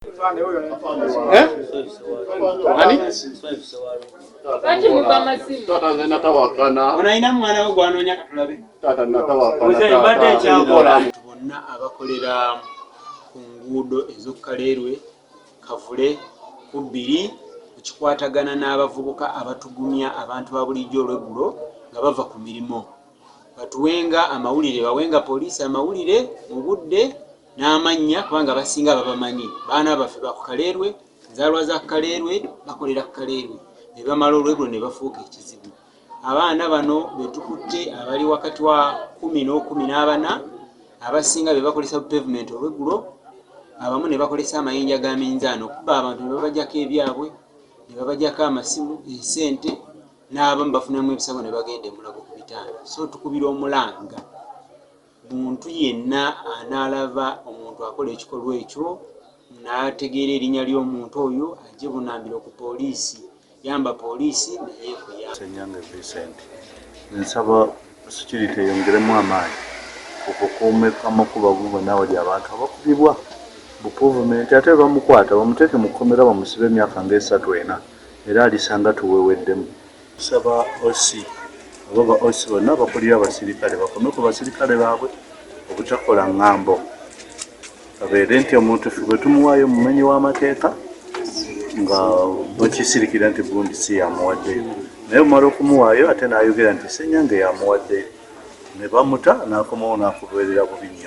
Eh? Ani? Kati muba masimu. Tata nze natawakana. Onayina mwana wo gwanonya katulabe. Tata natawakana. Mzee mbadde ekyankola. Bonna abakolera ku nguudo ez'okukalerwe kavule ku bbiri ekikwatagana n'abavubuka abatugumya abantu ba bulijjo olweggulo nga bava ku mirimu batuwenga amawulire bawenga poliisi amawulire mu budde n'amannya kubanga abasinga babamanyi baana baffe ba ku Kaleerwe, nzaalwa za ku Kaleerwe, bakolera ku Kaleerwe ne bamala olwegulo ne bafuuka ekizibu. Abaana bano be tukutte abali wakati wa kkumi n'okumi n'abana abasinga be bakolesa bu pevumenti olwegulo abamu ne bakolesa amayinja ga minzaani okubba abantu ne babajako ebyabwe ne babajako amasimu, ensente n'abamu bafunamu ebisago ne bagenda e Mulago ku bitanda so tukubira omulanga. Muntu yenna anaalaba omuntu akola ekikolwa ekyo n'ategeera erinnya ly'omuntu oyo aggye bunambiro ku poliisi. Yamba poliisi nayo ekuyambe. Ssenyange Vincent, Nsaba security eyongeremu amaanyi ku kukuuma amakubo ago gonna awali abantu abakubibwa bu puvumenti ate bwebamukwata bamuteeke mu kkomera bamusibe emyaka nga esatu ena era alisanga tuweweddemu Tusaba OC oba ba OC bonna abakulira abasirikale bakome ku basirikale baabwe obutakola ngambo kabeere nti omuntu fe bwe tumuwaayo omumenyi w'amateeka nga bakisirikira nti gundi si yamuwaddeyo naye omala okumuwaayo ate n'ayogera nti senyange yamuwaddeyo ne bamuta n'akomawo n'akubeerera bubi nnyo